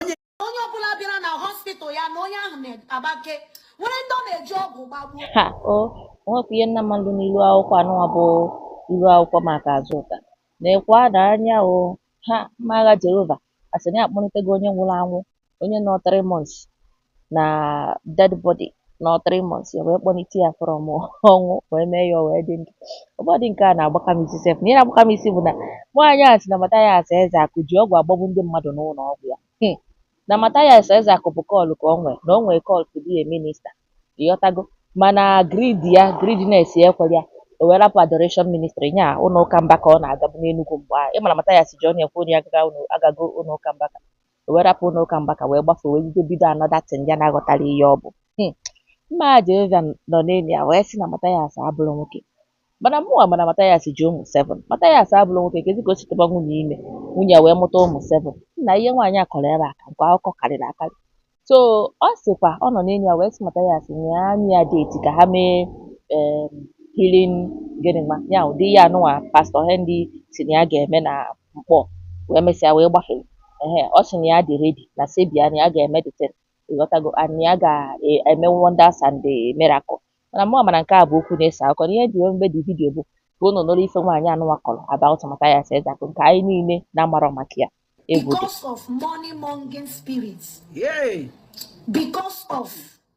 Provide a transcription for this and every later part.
onye onye ọbụla bịara na hospital ya na onye ahụ na-agbake nwere ndị ọ na-eji ọgwụ gbagbuo ha o nwekwa ihe nna mmadụ n'ilu akwụkwọ anụnwa bụ ilu akwụkwọ maka Azụka na-ekwe ada anya ọha mma agha jehova asị na ya akpọlitego onye nwụrụ anwụ onye nọ three months na dead body nọ three months ya wee kpọlite ya from ọnwụ wee mee ya o wee dị ndụ ọ bụdị nke a na-agbaka m isi sef na ihe na-agbaka m isi bụ na nwaanyị a sị na Mathias Ezeaku ji ọgwụ agbagbu ndị mmadụ n'ụlọ ọgwụ ya Hmm. na Mathias Ezeaku bụ call ka o nwee na o nwee call to be a minister ị ghọtago mana greed ya greediness ya ekwere ya o wee rapụ adoration ministry nya ụlọ ụka Mbaka ọ na-agabu n'Enugu mgbe ahụ ị mara Mathias ji ọnụ ya kwuo na ya agaga ụlọ- agago ụlọ ụka Mbaka o wee rapụ ụlọ ụka Mbaka wee gbafe wee bido bido another thing ya na-aghọtara ihe ọ bụ Hmm. mma agha Jehova nọ n'elu ya wee sị na Mathias abụrọ nwoke mana mụnwa ma na Mathias ji ụmụ seven Mathias abụrọ nwoke kezi ka o si tụba nwunye ime nwunye ya wee mụta ụmụ seven na ihe nwaanyị a kọrọ ebe a ka nke akụkọ karịrị akarị so ọ sịkwa ọ nọ n'elu ya wee sị Mathias nye anyị ya date ka ha mee em, healing gịnị ma ya ụdị ihe anụnwa pastor Henry sị na ya ga-eme na Nkpọ wee mesịa wee gbafere ehe ọ sị na ya dị ready na sebia na ya ga-eme the thing ị ghọtago and na ya ga-eme wonders and the miracle mana mụ amara nke a bụ okwu na-ese akụkọ na ihe ji wee mebe the video bụ ka unu nụrụ ife nwaanyị anụnwa kọrọ about Mathias Ezeaku nke anyị niile na-amarọ maka ya egwu dị because of money mongering spirits Yay! because of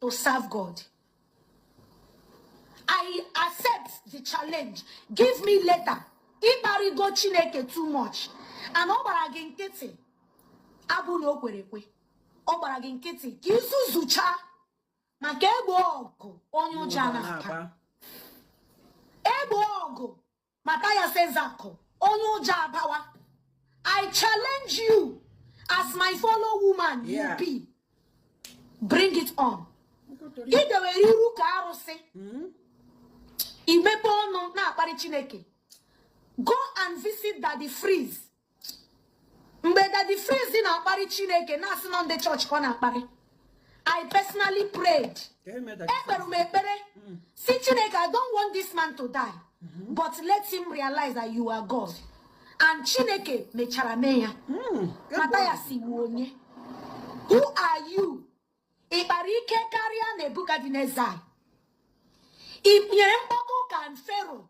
to serve God. I accept the challenge. Give me letter. Ị kparịgo Chineke too much. And ọ gbara gị nkịtị abụ na o kwere ekwe. Ọ gbara gị nkịtị ka i zuzucha maka egboo ọgụ onye ụjọ na-aka. Egboo ọgụ Mathias Ezeaku onye ụjọ abawa I challenge you as my fellow woman you be bring it on i dewere iru ka arụsị i mepe ọnụ na-akparị chineke go and visit daddy freeze mgbe daddy freeze na-akparị chineke na-asị na ọ ndị church ka ọ na-akparị i personally prayed ekpere m ekpere mm. sị chineke i don't want this man to die mm-hmm. but let him realize that you are god and chineke mechara mee ya mm, Mathias ị wụ onye who are you ị kpara ike karịa nebukadneza i nyere mkpọtụ ka fero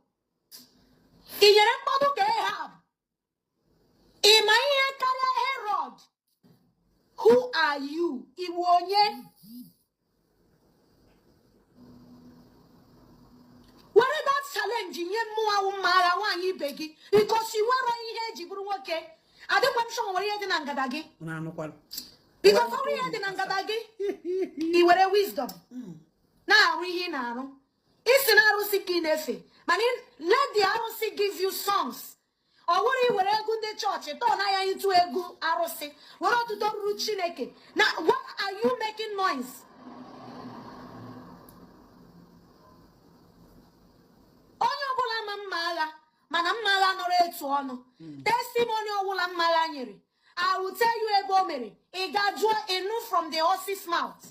i nyere mkpọtụ ka ehab ị ma ihe karịa herod who are you ị wụ onye were that challenge nye mmụọ awụ mma agha nwaanyị ibe gị because i nwere ihe e ji bụrụ nwoke adịkwa m sure e nwere ihe dị na ngada gị because ọ bụrụ ihe dị na ngada gị i were wisdom na-arụ ihe ị na-arụ ị sị na arụsị ka ị na-efe mana let the arụsị give you songs ọ bụrụ i were egwu ndị chọọchị turn ya into egwu arụsị were otito ruru chineke now what are you making noise onye ọbụla ma mma agha mana mma agha nọrọ etu ọnụ hmm. testimony ọbụla mma agha nyere I will tell you ebe o mere ị gaa jụọ ị nụ from the horse's mouth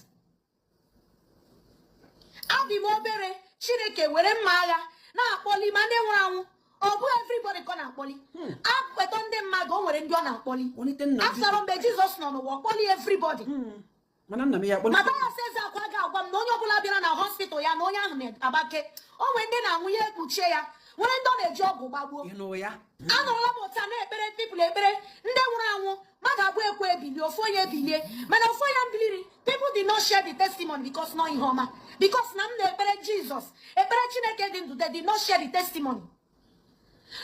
abị m obere chineke were mma agha na-akpọli ma ndị nwụrụ anwụ ọ bụ everybody ka ọ na-akpọli hmm. a kpọta ndị mmadụ o nwere ndị ọ na-akpọli after all mgbe jizọs nọ n'ụwa ọ kpọli everybody hmm. mathias ezeaku ga-agwa m na onye ọbụla bịara na hospital ya na onye ahụ na-agbake o nwere ndị na-anwụ ya ekpuchie ya nwere ndị ọ na-eji ọgwụ gbagbuo anọrọla m otu a na-ekpere people ekpere ndị nwụrụ anwụ mmadụ abụọ ekwe ebili ofu onye ebilie mana ofu onye biliri people did not share the testimony because na ọ ihe ọma because na m na-ekpere jizọs ekpere chineke dị ndụ they did not share the testimony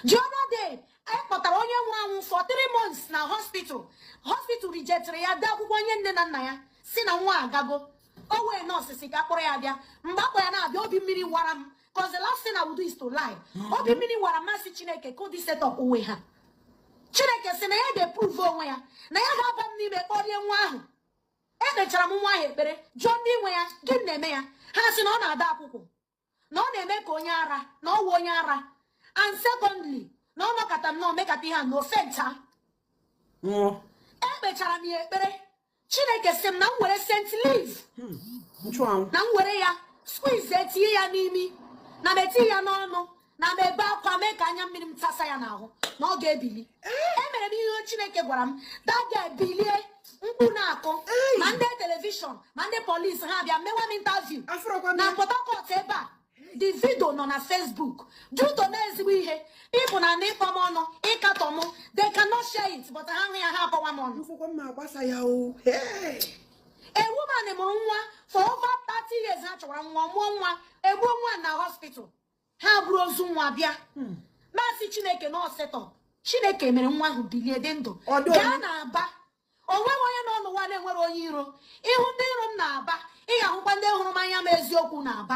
the other day a kpọtara onye nwụrụ anwụ for three months na hospital hospital rejectiri ya dee akwụkwọ nye nne na nna ya sị na nwa agago o nwee nọọsụ sị ka a kpọrọ ya bịa mgbe a kpọ ya na-abịa obi mmiri wara m Because the last thing I will do is to lie. Mm-hmm. Obi mmiri wara m m sị Chineke ka ụdị set up onwe ha. Chineke sị na ya ga-eprove onwe ya na ya ga-aba m n'ime kpọlie nwa ahụ. Ekpechara m nwa ahụ ekpere jụọ ndị nwe ya gịnị na-eme ya ha sị na ọ na-ada akwụkwụ na ọ na-eme ka onye ara na ọ wụ onye ara and secondly na ọ nọkọta nnọọ mekata ihe a na ọ fainta ekpechara m ya ekpere chineke sị m na m were scent leaf hmm. na m were ya squeeze etinye ya n'imi na m etinye ya n'ọnụ na m ebe akwa mee ka anya mmiri m tasa ya n'ahụ na ọ ga-ebili eh. emere m ihe chineke gwara m that girl ebilie mkpu na-akụ ma ndị telivishọn ma ndị polisi ha bịa mewa m interview na port harcourt ebe a The video nọ na Facebook due to na ezigbo ihe people nọ n'ịkpọ m ọnụ ịkatọ m they cannot share it but ha hụ ya ha akọwa m ọnụ a woman mụrụ nwa for over 30 years ha chọwara nwa mụọ nwa egbuo nwa na hospital ha buru ozu nwa bịa hmm. m sị chineke na ọ set up chineke mere nwa ahụ bilie dị ndụ gaa na aba o nweghị onye nọ n'ụwa na-enwere onye iro ị hụ ndị iro m na aba ị ga-ahụkwa ndị hụrụ m n'anya n'eziokwu na aba